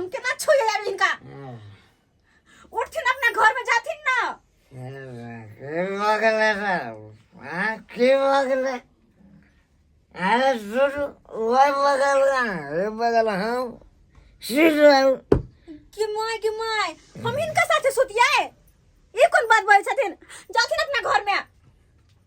उनके ना छुए यार इनका उठथिन अपना घर में जाथिन ना मगले ना हाँ की मगले अरे सुन वही मगल ना ये मगल हम सीट रहे कि माय कि माय हम इनका साथे सुतिया है ये कौन बात बोल छथिन जाथिन अपना घर में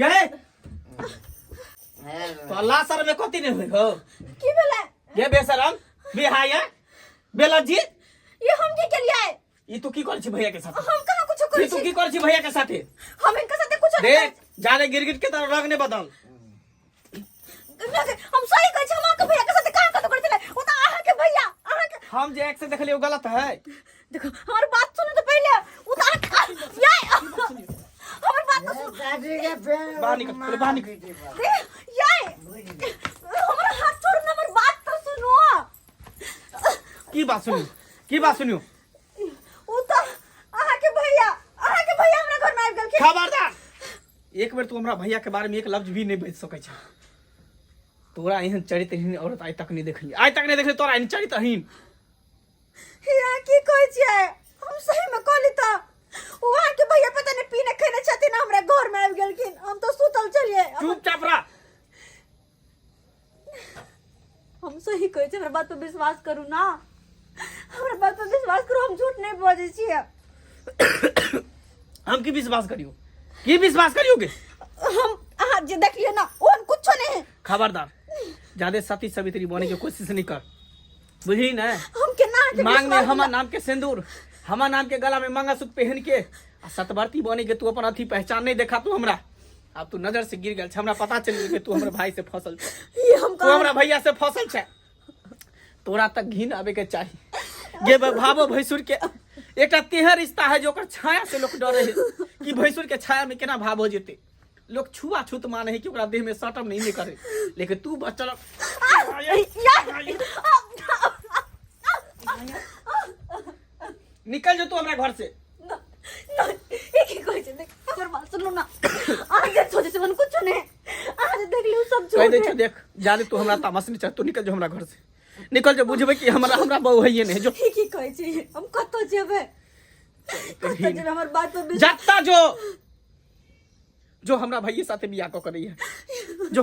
गे तोला सर में कथी नहीं हुई हो की भेलै ये बेशरम बिहाय बेलत जी ये हम के केलिए ई तू की कर छी भैया के साथ हम कहां कुछ कर छी ई तू की कर छी भैया के साथ हम इनका साथे कुछ देख जाने गिरगिट के तरह रंग ने बदल हम सही कहै छी हम अहाँके भैया के साथ काम कतौ करै छलै ओ तऽ अहाँके भैया अहाँके हम जे एक्स देखलिए ओ गलत है देखो हमर बात सुनू तऽ पहिले ओ तऽ अहाँके याय हमर बात तऽ सुनू दादी के फेर बाहर निकल, पहिले बाहर निकल। दे, याय हमर हाथ छोड़ू ने हमर बात तऽ सुनू की बात सुनियो की बात सुनियो ओ तऽ अहाँके भैया अहाँके भैया हमरा घर में आबि गेलखिन खबरदार एक बेर तू हमरा भैया के बारे में एक लफ्ज भी नहीं बज सके छ तोरा एहन चरित्रहीन औरत आइ तक नहीं देखली आइ तक नहीं देखली तोरा एहन चरित्रहीन या की कहै छियै हम सही में कहली त वहां के भैया पता नहीं पीने खेने छथिन हमरा घर में आबि गेलखिन हम तो सुतल छलिए चुपचाप रह हम सही कहै छी हमरा बात पर विश्वास करू ना हमरा बात पर विश्वास करू हम झूठ नहीं बजै छी हम की विश्वास करियो की विश्वास करियो के हम अहाँ जे देखलिए ना ओहन कुछ नहीं है खबरदार ज्यादा सती सवित्री बने के कोशिश नहीं कर बुझी ना हम के ना मांग में हमार नाम के सिंदूर हमार नाम के गला में मंगलसूत्र पहन के सतवर्ती बने के तू अपन अथी पहचान नहीं देखा तू हमरा आब तू नजर से गिर गेल छै हमरा पता चलि गेल कि तू हमर भाई से फसल छै ई हम तू हमरा भैया से फसल छै तोरा तक घिन आबे के चाही गे बा- भाबो भैंसुर के एकटा तेहन रिश्ता है जो ओकर छाया से लोग डरे है कि भैंसुर के छाया में केना भाव हो जेते लोग छुआ छूत माने है कि ओकरा देह में सटम नहीं, नहीं करे लेकिन तू बचल यार निकल जो तू हमरा घर से ना ना ये की कोई चीज देख अगर बात सुन लो ना आज ये छोटे से मन कुछ ने आज देख लियो सब कह छोड़ दे छो देख जाने तू हमरा तामस नहीं चाह तू निकल जो हमरा घर से निकल जो बुझबे कि हमरा हमरा बहू है ये नहीं जो ये की कोई चीज हम कतो जेबे कतो जेबे हमर बात पे बिल- जाता जो जो हमरा भैया साथे बियाह को करी है जो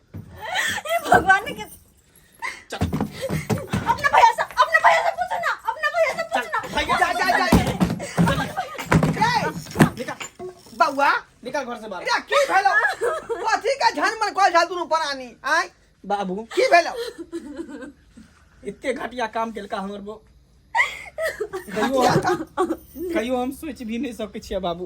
भगवान ने अपना भैया से अपना भैया से पूछो ना अपना भैया से पूछो ना भैया जा जा जा बउआ निकल घर से बाहर या की भेलो कथी का झन मन कॉल झाल दुनु परानी आय बाबू की भेलो इतने घटिया काम केलका हमर बो कहियो कहियो हम सोच भी नहीं सकै छियै बाबू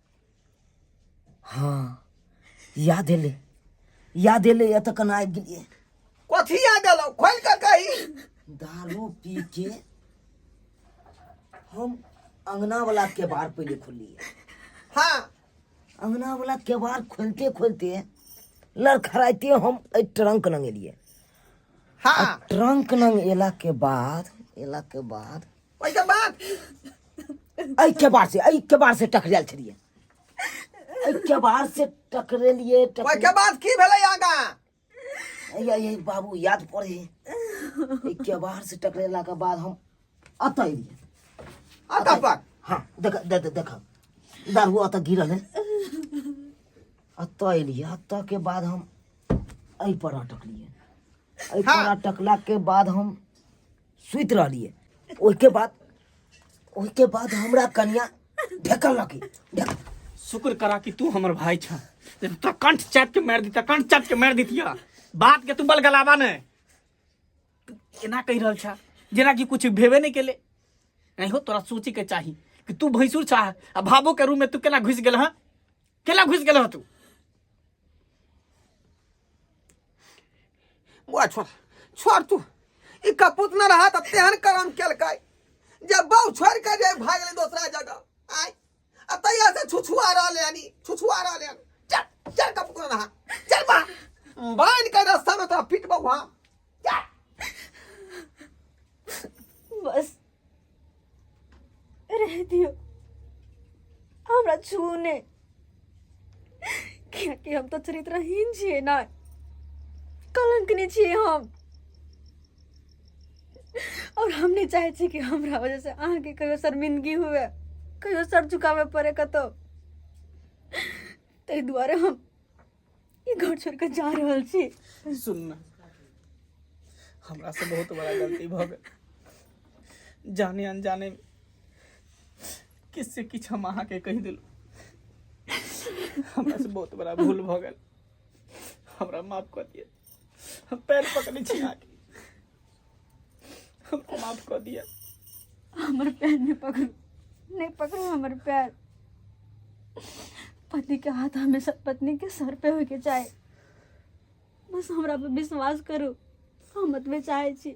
हँ याद एलै याद एलै एतऽ केना आबि गेलियै कथी याद एलौ खोल के कही दारू पी के हम अंगना वाला केबाड़ पहिले खोलिए हाँ अंगना वाला केबाड़ खोलते खोलते लड़खड़ाइते हम एहि ट्रंक लंग एलिए हाँ ट्रंक लंग एला के बाद एला के बाद ओहिके बाद एहिके बार से एहिके बार से टकरायल छलियै एहिके बार से टकरेलियै टकरे- ओहिके बाद की भेलै आगा या ये बाबू याद पड़े एहिके बार से टकरेला के बाद हम अतऽ एलियै अतः पर हाँ देख देख देख दारू अतऽ गिरल है अतऽ एलियै अतऽ के बाद हम एहि पर अटकलियै एहि पर हाँ। अटकला के बाद हम सुति रहलियै ओहिके बाद ओहिके बाद हमरा कनिया ढेकलकै ढेक शुक्र करा कि तू हमर भाई छ तो कंठ चाट के मार दीता कंठ चाट के मार दीतिया बात के तू बल गलावा ने एना कहि रहल छा जेना कि कुछ भेबे नहीं केले नहीं हो तोरा सोचे के चाही कि तू भैंसुर छा आ भाबो के रूम में तू केना घुस गेल हाँ केला घुस गेल तू बुआ छोड़ छोड़ तू ई कपूत न रहा त तेहन करम केलकै जे बाउ छोड़ के जे भाग गेलै दोसरा जगह आय आ तैया से छुछुआ रहले हनी छुछुआ रहले हन चल चल कपूत न रहा चल बा बाइन के रास्ता में तोरा पीट बउहा चल बस रह दियो हमरा छू ने कियाकि हम तो चरित्रहीन छियै ना कलंकनी छियै हम और हम नहीं चाहे छी कि हमरा वजह से अहाँ के कहियो शर्मिंदगी हुए कहियो सर झुकावे पड़े कतौ ताहि दुआरे हम ई घर छोड़ के जा रहल छी सुन ना हमरा से बहुत बड़ा गलती भऽ गेल जाने अनजाने में किस से किछु हम अहाँके कहि देलहुँ हमरा से बहुत बड़ा भूल भऽ गेल हमरा माफ कऽ दिअ हम पैर पकड़े छी अहाँके हमको माफ कऽ दिअ हमर पैर नहि पकड़ू नहि पकड़ू हमर पैर पति के हाथ हमेशा पत्नी के सर पे होय के चाही बस हमरा पे विश्वास करू हम मतबे चाहे छी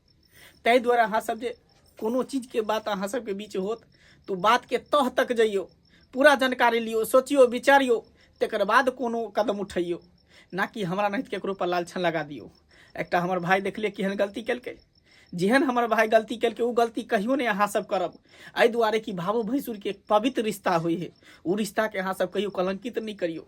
ताहि दुआरे अहाँ सब जे कोनो चीज के बात अहाँ सब के बीच होत तो बात के तह तक जाइयो पूरा जानकारी लियो सोचियो विचारियो तकर बाद कोनो कदम उठैयो ना कि हमरा नहीं केकरो पर लालछन लगा दियो एकटा हमर भाई देखले केहन गलती केलकै जेहन हमर भाई गलती केलकै ओ गलती कहियो नहि अहाँ सब करब एहि दुआरे कि भावो भैंसुर के एक पवित्र रिश्ता होइ है ओ रिश्ता के अहाँ सब कहियो कलंकित नहि करियो